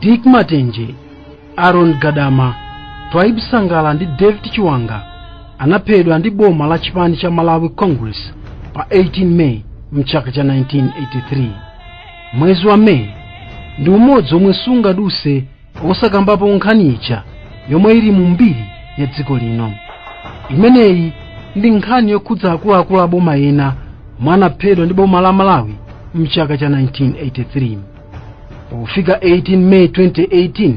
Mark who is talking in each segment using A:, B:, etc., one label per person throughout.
A: dick matenje aaron gadama twaibu sangala ndi david chiwanga anaphedwa ndi boma la chipani cha malawi congress pa 18 may mchaka cha 1983 mwezi wa may ndi umodzi omwe sungaduse osakambapo nkhani ija yomwe ili mu mbiri ya dziko lino imeneyi ndi nkhani yokhudza akuluakulu a boma ena omwe anaphedwa ndi boma la malawi mchaka cha 1983 pofika 18 meyi 2018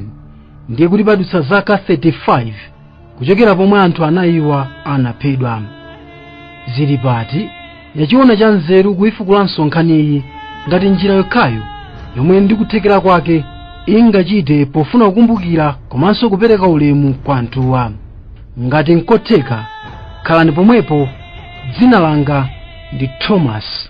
A: ndiye kuti padutsa zaka 35 kuchokera pomwe anthu anayiwa anaphedwa zilipati yachiona cha nzeru kuifukulanso nkhaniyi ngati njira yokhayo yomwe ndikuthekera kwake ingachite pofuna kukumbukira komanso kupereka ulemu kwa anthuwa ngati nkotheka khalani pomwepo dzina langa ndi thomas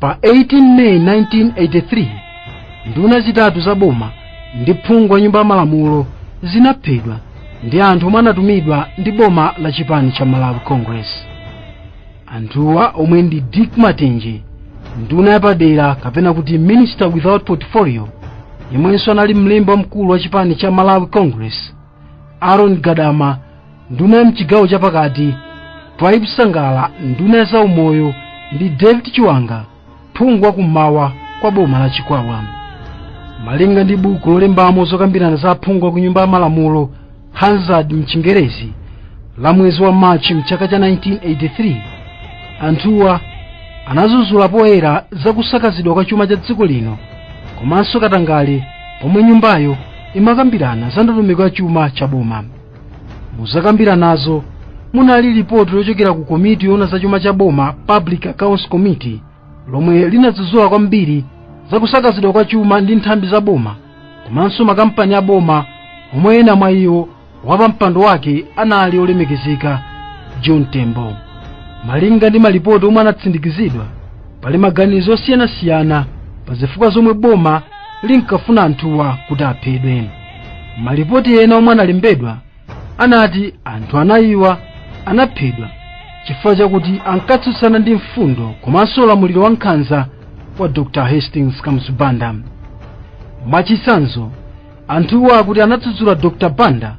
A: pa 18 meyi 1983 nduna zitatu za boma ndi phungu wa nyumba ya malamulo zinaphedwa ndi anthu omwe anatumidwa ndi boma la chipani cha malawi congress anthuwa omwe ndi dick matenje nduna yapadera kapena kuti minister without portfolio yemwenso anali mlembi wamkulu wa chipani cha malawi congress aaron gadama nduna ya mchigawo chapakati twaibu sangala nduna ya zaumoyo ndi david chiwanga phungu wa kummawa kwa boma la chikwawa malinga ndi buku lolembamo zokambirana za aphungu a ku nyumba ya malamulo hansard mchingerezi la mwezi wa machi mchaka cha 1983 anthuwa anadzudzula poyera za kusakazidwa kwa chuma cha dziko lino komanso katangale pomwe nyumbayo imakambirana za ndondomeko ya chuma cha boma muzokambiranazo munali lipoti lochokera ku komiti yoona za chuma cha boma public accounts committee lomwe linadzudzula kwambiri za kusakazidwa kwa chuma ndi nthambi za boma komanso makampani a boma omwe ena mwa iwo wapampando wake anali olemekezeka john tembo malinga ndi malipoti omwe anatsindikizidwa pali maganizo osiyanasiyana pa zifukwa zomwe boma linkafuna anthuwa kuti aphedwe malipoti ena omwe analembedwa anati anthu anayiwa anaphedwa chifukwa chakuti ankatsutsana ndi mfundo komanso ulamuliro wa nkhanza wa dr hastings kamuzu banda mwachitsanzo anthuwo akuti anadzudzula dr banda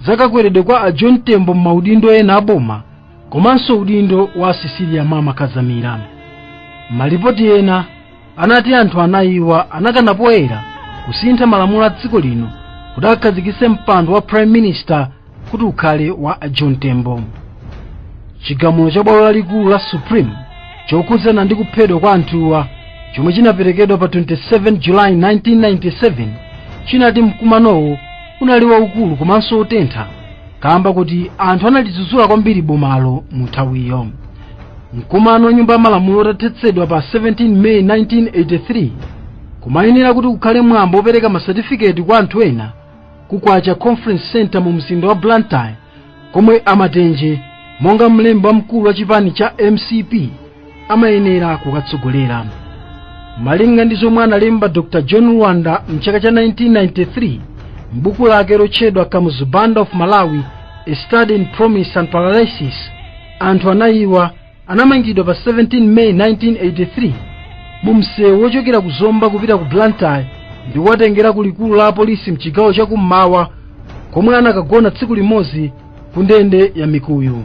A: zakakweredwe kwa a john tembo m'maudindo ena aboma komanso udindo wa cecilia mama kadzamira malipoti ena anati anthu anayiwa anakana poyera kusintha malamulo a dziko lino kuti akhazikitse mpando wa prime minister kuti ukhale wa a john tembo chigamulo cha bwalo lalikulu la supreme chokhudzana ndi kuphedwa kwa anthuwa chomwe chinaperekedwa pa 27 julayi 1997 chinati mkumanowo unali waukulu komanso wotentha kamba kuti anthu analidzudzula kwambiri bomalo mu nthawiyo mkumano wa nyumba ya malamulo utathetsedwa pa 17 meyi 1983 kumayenera kuti kukhale mwambo wopereka masatifiketi kwa anthu ena ku kwacha conference centre mu mzinda wa blantyre komwe a matenje monga mlembi wamkulu wa chipani cha mcp amayenera kukatsogolera malinga ndi zomwe analemba dr john lwanda mchaka cha 1993 m'buku lake lotchedwa kamuzu banda of malawi a study in promise and paralysis anthu anayiwa anamangidwa pa 17 may 1983 mu msewu wochokera ku zomba kupita ku blantyre ndi kuwatengera ku likulu la apolisi mchigawo cha kummawa komwe anakagona tsiku limodzi ku ndende ya mikuyu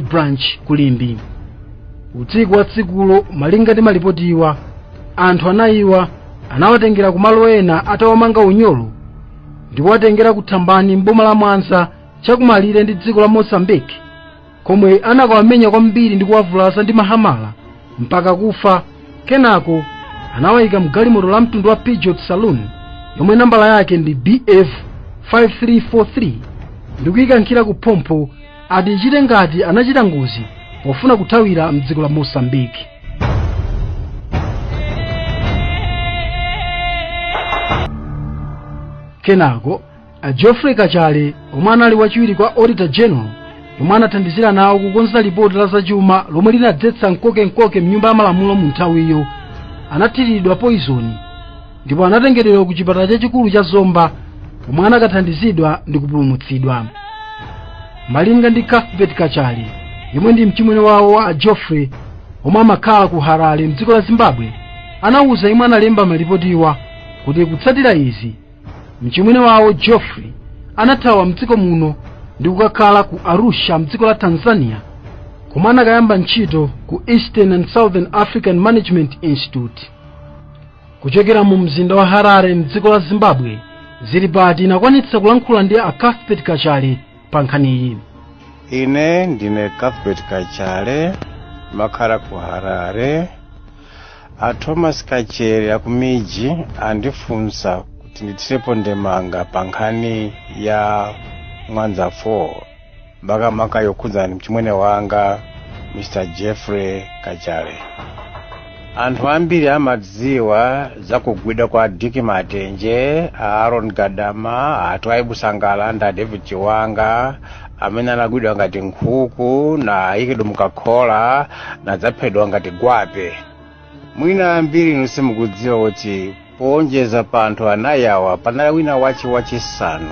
A: branch ku limbe usiku wa tsikulo malinga ndi malipotiwa anthu anayiwa anawatengera kumalo ena atawamanga unyolo ndi kuwatengera ku thambani m'boma la mwanza chakumalire ndi dziko la mozambique komwe anakawamenya kwambiri ndi kuwavulaza ndi mahamala mpaka kufa kenako anawayika mgalimoto la mtundu wa peugeot saloon yomwe nambala yake ndi bf 5343 ndikuyikankhira ku phompho ati ichite ngati anachita ngozi pofuna kuthawira mdziko la mozambique kenako a geoffrey kachale omwe anali wachiwiri kwa auditor general omwe anathandizira nawo kukonza lipoti la zachuma lomwe linadzetsa mkoke mkoke mnyumba ya malamulo mu nthawiyo anathiridwa poizoni ndipo anatengedwa ku chipatala chachikulu cha zomba pomwe anakathandizidwa ndi kupulumutsidwa malinga ndi cuthbert kachale yemwe ndi mchimwene wawo a geoffrey omwe amakhala ku harare mdziko la zimbabwe anawuza yemwe analemba malipotiwa kuti kutsatira izi mchimwene wawo geoffrey anathawa mdziko muno ndi kukakhala ku arusha mdziko la tanzania komwe anakayamba ntchito ku eastern and southern african management institute kuchokera mu mzinda wa harare mdziko la zimbabwe zili pati inakwanitsa kulankhula ndi a cuthbert kachale pa nkhaniyi ine
B: ndine cuthbert kachale makhala ku harare a thomas kachere aku mij andifunsa kuti ndithirepo ndemanga pa nkhani ya mwanza 4 makamaka yokhudzana mchimwene wanga mr jeffrey kachale anthu ambiri amadziwa za kugwidwa kwa dick matenje a aaron gadama a twaibu sangala ndi a david chiwanga amene anagwidwa ngati nkhuku na ayikidwa mukakhola nadzaphedwa ngati gwape mwina ambiri inu simukudziwa kuti powonjeza pa anthu anayi awa panali wina wache wachisanu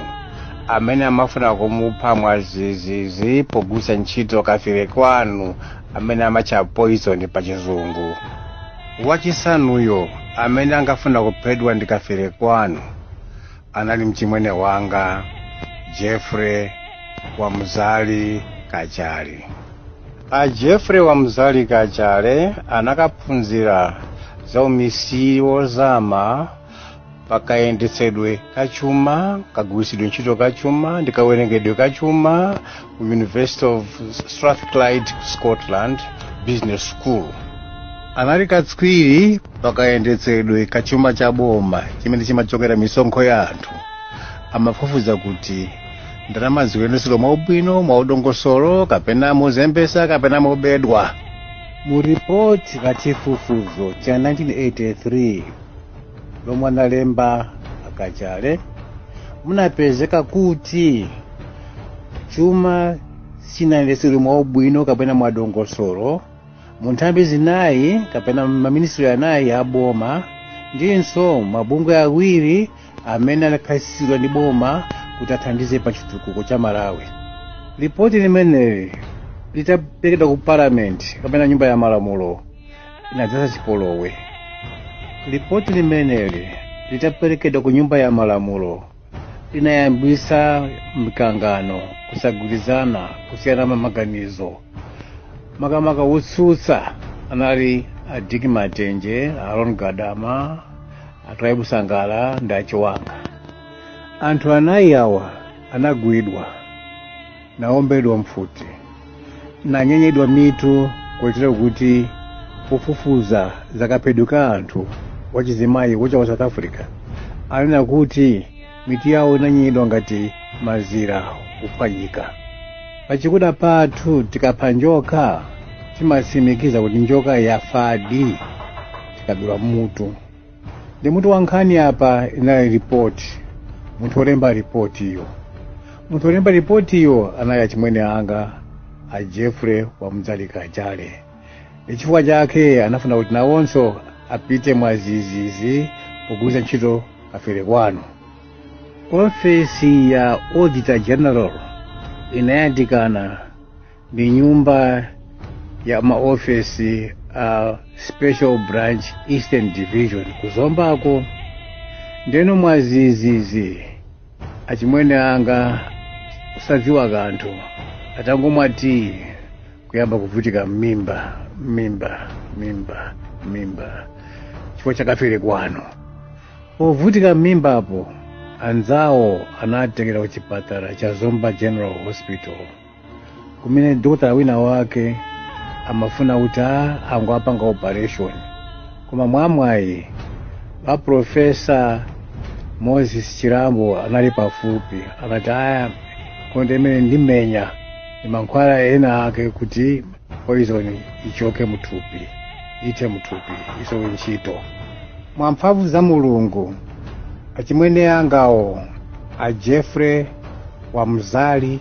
B: amene amafuna kumupha mwazizizi pogwiritsa ntchito kafire kwanu amene amatcha poison pa chizungu wachisanuyo amene ankafuna kuphedwa ndi kafire kwanu anali mchimwene wanga jeffrey wamzali kachale a jeffrey wamzali kachale anakaphunzira za umisiri wozama pakayendetsedwe ka chuma kagwiritsidwe ntchito ka chuma ndi kawerengedwe ka chuma ku university of strathclyde scotland business school anali katswiri pakayendetsedwe ka chuma cha boma chimene chimachokera misonkho ya anthu amafufuza kuti ndalama zikuyendetsedwa mwaubwino mwaudongosolo kapena mozembetsa kapena mobedwa mu ripoti la chifufuzo cha 1983 lomwe analemba a kachale munapezeka kuti chuma sichinayendetsedwe mwaubwino kapena mwadongosolo mu nthambi zinayi kapena maministri anayi a boma ndinso mabungwe awiri amene anakhazikitsidwa ndi boma kuti athandize pa chitukuko cha malawi lipoti limeneli litaperekedwa ku parliament kapena nyumba ya malamulo inadzetsa chipolowe lipoti limeneli litaperekedwa ku nyumba ya malamulo linayambisa mkangano kusagwirizana kusiyana maganizo makamaka wotsutsa anali a dick matenje aaron gadama a twaibu sangala ndi a chiwanga anthu anayi awa anagwidwa naombedwa mfuti nanyenyedwa mitu kotero kuti wofufuza zakaphedwe ka anthu wachizimayi wacha wa south africa anena kuti mitu yawo inanyenyedwa ngati mazira kuphwanyika pachikuda pathu tikapha njoka timatsimikiza kuti njoka yafadi tikadula mutu ndi mutu wa nkhani apa inali ripoti munthu olemba ripotiyo munthu olemba ripotiyo anali achimwene anga a jeffrey wamzali kachale ndi chifukwa chake anafuna kuti nawonso apite mwazizizi pogwiritsa ntchito kafere kwanu ofesi ya auditor general inayandikana ndi nyumba ya maofesi a special branch eastern division kuzombako ndeno mwazizizi achimwene anga osadziwa kanthu atangomwa tiyi kuyamba kuvutika mmimba mmimba mmimba mmimba chifukwa chakafere kwanu povutika mmimbapo anzawo anawatengera kuchipatala cha zomba general hospital kumene dokotala wina wake amafuna kuti angowapanga operation koma mwamwayi wa profesa moses chirambo anali pafupi anati ayi akondeimenendimenya ndi mankhwala ena ake kuti poison ichoke muthupi ithe muthupi isowe ntchito mwa mphamvu za mulungu achimwene angawo a jeffrey wamzali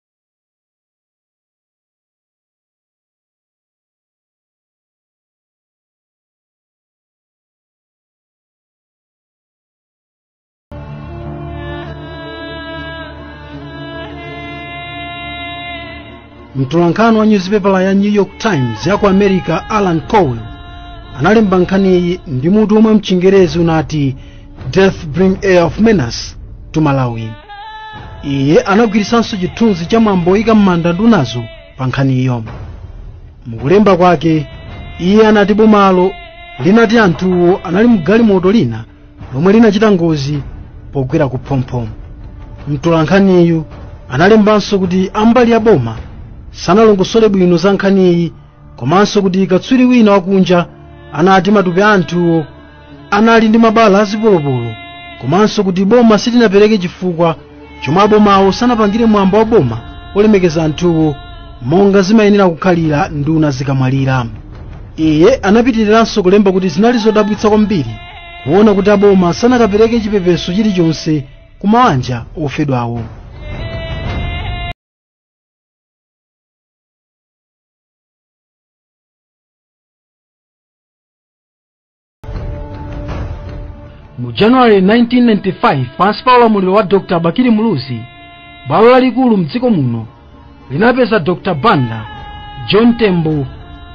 A: mtolankhani wa nyuzipepala ya new york times ya ku america alan cowell analemba nkhaniyi ndi mutu omwe mchingerezi unati deaths bring air of menace to malawi iye anagwiritsanso chithunzi cha mwambo woyika m'manda ndunazo pa nkhaniyo mukulemba kwake iye anati bomalo linati anthuwo anali mgalimoto lina lomwe linachita ngozi pogwera ku phompho mtolankhaniyu analembanso kuti ambali ya boma sanalongosole bwino za nkhaniyi komanso kuti katswiri wina wakunja anati matupi a anthuwo anali ndi mabala azipolopolo komanso kuti boma silinapereke chifukwa chomwe abomawo sanapangire mwambo wa boma olemekeza anthuwo monga zimayenera kukhalira nduna zikamwalira iye anapitiriranso kulemba kuti zinali zodabwitsa kwambiri kuona kuti aboma sanakapereke chipepeso chilichonse ku mawanja ofedwawo mu january 1995 pansi pa ulamuliro wa dr bakili muluzi bwalo lalikulu mdziko muno linapeza dr banda john tembo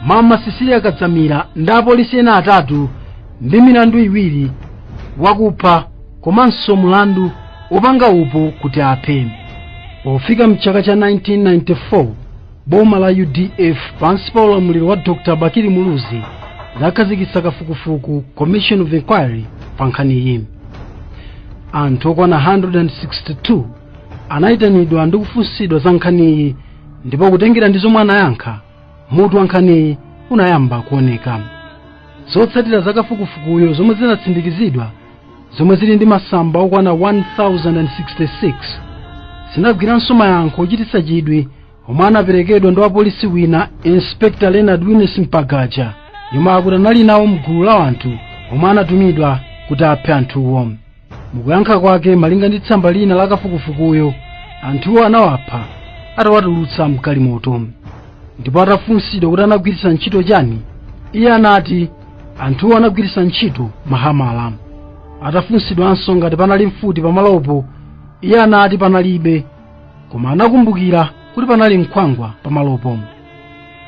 A: mama cecilia kadzamira ndi apolisi ena atatu ndi milandu iwiri wakupha komanso mulandu wopanga upo kuti aphe pofika mchaka cha 1994 boma la udf pansi pa ulamuliro wa dr bakili muluzi linakhazikitsa kafukufuku commission of inquiry pa nkhaniyi anthu okwana 162 anayitanidwa ndi kufunsidwa za nkhaniyi ndipo kutengera ndi zomwe anayankha mutu wa nkhaniyi unayamba kuoneka zotsatira za kafukufukuyo zomwe zinatsindikizidwa zomwe zili ndi masamba okwana 1066 zinagwiranso mayankho ochititsa chidwi omwe anaperekedwa ndi wapolisi wina inspector leonard winesi mpagaja yemwe akuti anali nawo mgulu la anthu omwe anatumidwa kuti aphe anthuwo mukuyankha kwake malinga ndi tsamba lina la kafukufukuyo anthuwo anawapha atawatulutsa mgalimoto ndipo atafunsidwa kuti anagwiritsa ntchito chani iye anati anthuwo anagwiritsa ntchito mahamala atafunsidwanso ngati panali mfuti pamalopo iye anati panalibe koma anakumbukira kuti panali nkhwangwa pamalopo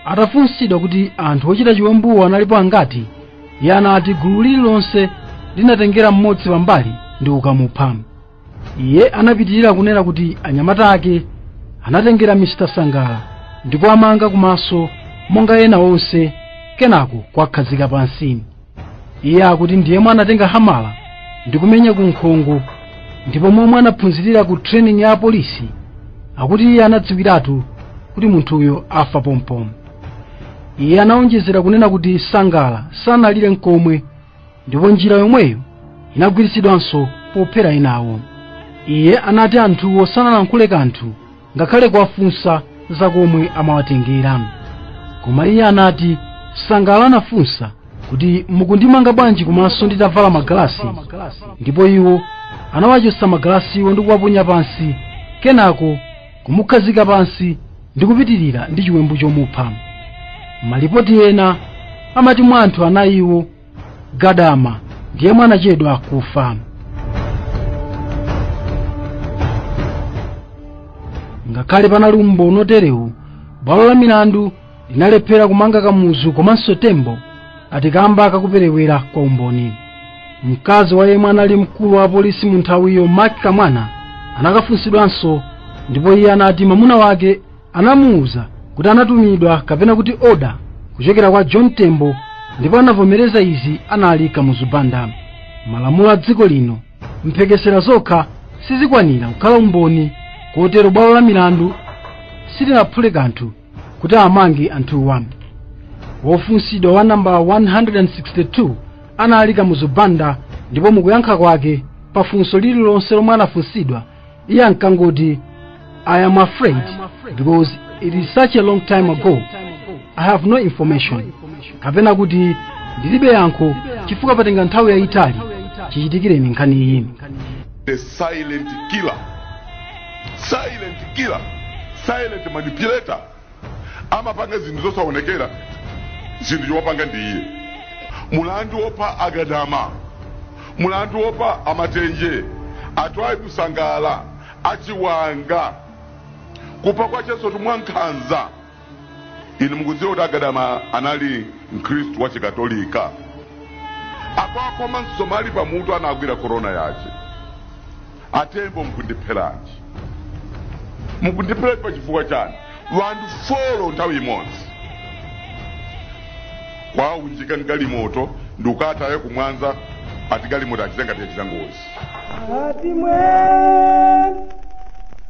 A: atafunsidwa kuti anthu ochita chiwembuwo analipo angati iye anati gulu lililonse linatengera mmodzi pambali ndi kukamupha iye anapitirira kunena kuti anyamata ake anatengera mr sangala ndi kuwamanga kumaso monga ena onse kenako kuwakhazika pansi iye akuti ndi yemwe anatenga hamala ndi kumenya ku nkhongo ndipo momwe anaphunzirira ku training ya apolisi akuti iye anadziwiratu kuti munthuyo afa pompomo iye anawonjezera kunena kuti sangala sanalire nkomwe ndipo njira yomweyo inagwiritsidwanso pophera enawo iye anati anthuwo sanalankhule kanthu ngakhale kuwafunsa za komwe amawatengera koma iye anati sangala anafunsa kuti mukundimanga bwanji kumaso nditavala magalasi ndipo iwo anawachotsa magalasiwo ndi kuwaponya pansi kenako kumukhazika pansi ndi kupitirira ndi chiwembu chomupha malipoti ena amati mwa anthu anayiwo gadama ndi yemwe anachedwa kufa ngakhale panali umboni oterewu bwalo la milandu linalephera kumanga kamuzu komanso tembo ati kamba kakuperewera kwa umboni mkazi wa yemwe anali mkulu wa apolisi mu nthawiyo mac kamwana anakafunsidwanso ndipo iye anati mwamuna wake anamuwuza kuti anatumidwa kapena kuti oda kuchokera kwa john tembo ndipo anavomereza izi anali kamuzu banda malamulo a dziko lino mphekesera zokha sizikwanira kukhala umboni kotero bwalo la milandu silinaphule kanthu kuti amange anthuwa wofunsidwa wa namba 162 anali kamuzu banda ndipo mukuyankha kwake pafunso lililonse lomwe anafunsidwa iye ankangoti i am afraid because it is such a long time ago i have no information kapena kuti ndilibe yankho chifukwa patenga nthawi yayitali chichitikireni nkhani iyi the
C: silent killer silent killer silent manipulator amapanga zinthu zosaonekera zinthu chomapanga ndi iye mulandu wopha agadama mulandu wopha amatenje atwaibu sangala achiwanga kupha kwachensotu mwankhanza inu mukudziwa kuti agadama anali mkhristu wa chikatolika akuwakhoma msomali pamutu anagwira korona yace atembo mukundipheranji mukundipheranji pa chifukwa chani wanthu folo nthawi imodzi kuwaunjika mgalimoto ndikukataya kumwanza ati galimoto achita ngati yachita ngozi Ati mwe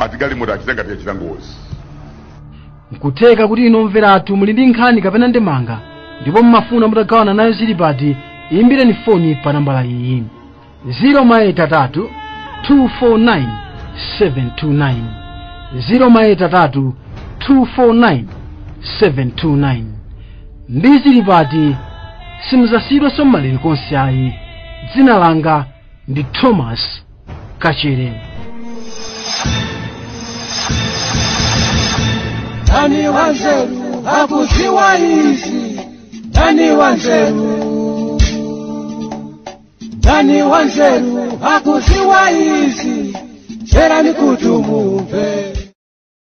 C: ati galimoto achita ngati yachita
A: ngozi nkutheka kuti inu omvera athu muli ndi nkhani kapena ndemanga ndipo mmafuna mutagawana nayo zilipati imbireni foni pa nambala iyi 083 249 729 083 249 729 ndi zilipati simuzasiyidwanso mmalere konse ayi dzina langa ndi thomas kachere Nani
D: wanzeru hakuziwa izi, nani wanzeru, nani wanzeru hakuziwa izi, chera ni kutumumve.